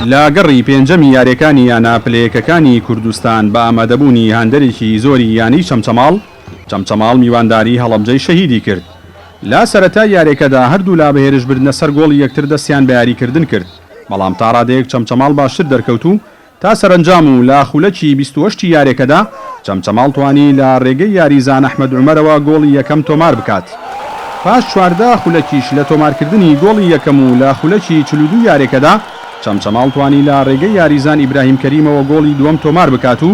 لە گەڕی پێنجەمی یارییەکانی یانە پلەیەکەکانی کوردستان بە ئامادەبوونی هاندەرێکی زۆری یانەی چەمچەماڵ، چەمچەماڵ میوانداری هەڵەبجەی شەهیدی کرد. لە سەرەتای یارییەکەدا هەردوولا بە هێرشبردنە سەر گۆڵی یەکتر دەستیان بە یاریکردن کرد، بەڵام تاڕادەیەک چەمچەماڵ باشتر دەرکەوت و تا سەرەنجام و لە خولەکی بیست و هەشتی یارێکەدا، چەمچەماڵ توانی لە رێگەی یاریزان ئەحمەد عومەرەوە گۆڵی یەکەم تۆمار بکات. پاش چواردە خولەکیش لە تۆمارکردنی گۆڵی یەکەم و لە خولەکی چل و دوو یارێکەدا، چەمچەماڵ توانی لە رێگەی یاریزان ئیبراهیم کەریمەوە گۆڵی دووەم تۆمار بکات و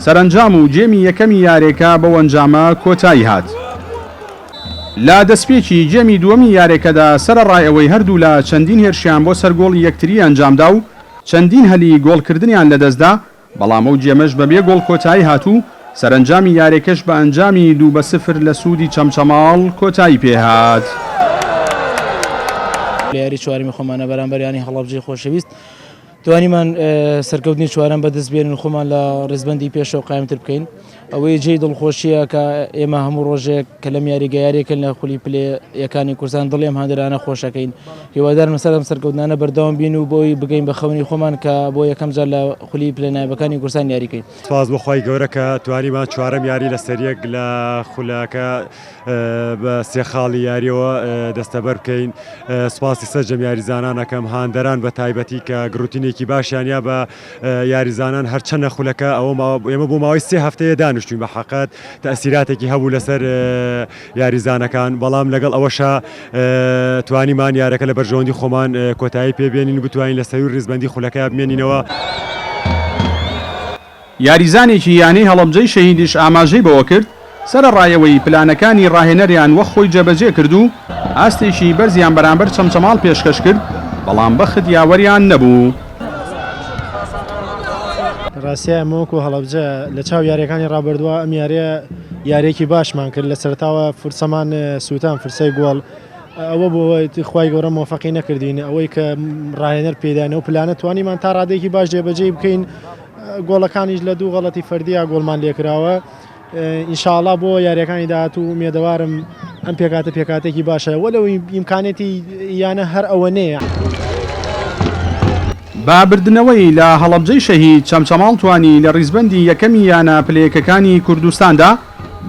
سەرەنجام و گێمی یەکەمی یارێکە بەو ئەنجامە کۆتایی هات. لە دەستپێکی گێمی دووەمی یارێکەدا، سەرەڕای ئەوەی هەردوولا چەندین هێرشیان بۆ سەر گۆڵی یەکتری ئەنجامدا و چەندین هەلی گۆڵکردنیان لەدەستدا، بەڵام ئەو گێمەش بەبێ گۆڵ کۆتایی هات و سەرەنجامی یاریەکەش بە ئەنجامی دوو بە سفر لە سوودی چەمچەماڵ کۆتایی پێهات. لە یاری چوارەمی خۆمانە بەرامبەر یانەی هەڵەبجەی خۆشەویست توانیمان سەرکەوتنی چوارەم بەدەستبێنین و خۆمان لە ریزبەندی پێشەوە قایمتر بکەین. ئەوەی جێی دڵخۆشییە کە ئێمە هەموو ڕۆژێک کە لەم یاریگە یاریەکەن لە خولی پلێ یەکانی کوردستان دڵێم هەندرانە خۆشەکەین هیوادارم سەرم سەرکەوتنانە بەردەوام بین و بۆی بگەین بە خەونی خۆمان کە بۆ یەکەم جار لە خولی پلێ نایبەکانی کوردستان یاریکەین. سپاس بۆ خوای گەورە کە توانیمان چوارەم یاری لەسەریەک لە خولەکە بە سێ خاڵی یاریەوە دەستەبەر بکەین. سپاسی سەرجەم یاریزانان ئەکەم هاندەران بە تایبەتی کە گڕوتینێکی باشیان یا بە یاریزانان هەرچەنە خولەکە ئەوە ماوە ئێمە بۆ ماوەی سێ هەفتەیە دانیشتوین بە حەقت تەسیراتێکی هەبوو لەسەر یاریزانەکان بەڵام لەگەڵ ئەوەشا توانیمان یارەکە لە بەرژەوەندی خۆمان کۆتایی پێبێنین بتوانین لە سەرووی ریزبەندی خولەکە بمێنینەوە. یاریزانێکی یانەی هەڵەبجەی شەهیدیش ئاماژەی بەوەکرد، سەرەڕایەوەی پلانەکانی ڕاهێنەریان وەک خۆی جێبەجێ کرد و ئاستێکی بەرزیان بەرامبەر چەمچەماڵ پێشکەش کرد، بەڵام بەخت یاوەریان نەبوو. ڕاستییە ئێمە وەکو هەڵەبجە لە چاو یارییەکانی ڕابردووە ئەم یارییە یارییەکی باشمان کرد، لە سەرەتاوە فرسەمان سووتان، فرسەی گۆڵ، ئەوە بوو خوای گەورە مۆفەقی نەکردین، ئەوەی کە ڕاهێنەر پێی داین ئەو پلانە توانیمان تا ڕادەیەکی باش جێبەجێی بکەین، گۆڵەکانیش لە دوو غەڵەتی فەردییە گۆڵمان لێکراوە. ان شاء اللە بۆ یاریەکانی داهاتوو ئومێدەوارم ئەم پێکاتە پێکاتێکی باشە وە لەو ئیمکانێتی یانە هەر ئەوە نەیە. بە بردنەوەی لە هەڵەبجەی شەهید چەمچەماڵ توانی لە ڕیزبەندی یەکەمی یانە پلەیەکەکانی کوردستاندا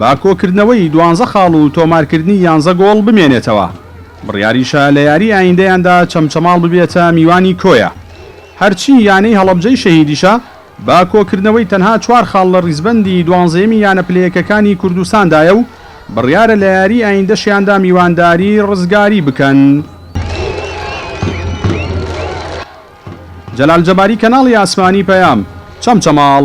بە کۆکردنەوەی دوانزە خاڵ و تۆمارکردنی یانزە گۆڵ بمێنێتەوە، بڕیاریشە لە یاری ئایندەیاندا چەمچەماڵ ببێتە میوانی کۆیە، هەرچی یانەی هەڵەبجەی شەهیدیشە، بە کۆکردنەوەی تەنها چوار خاڵ لە ریزبەندی دوانزەیەمی یانە پلە یەکەکانی کوردستاندایە و بڕیارە لە یاریی ئایندەشیاندا میوانداری رزگاری بکەن. جەلال جەباری کەناڵی ئاسمانی پەیام چەمچەماڵ.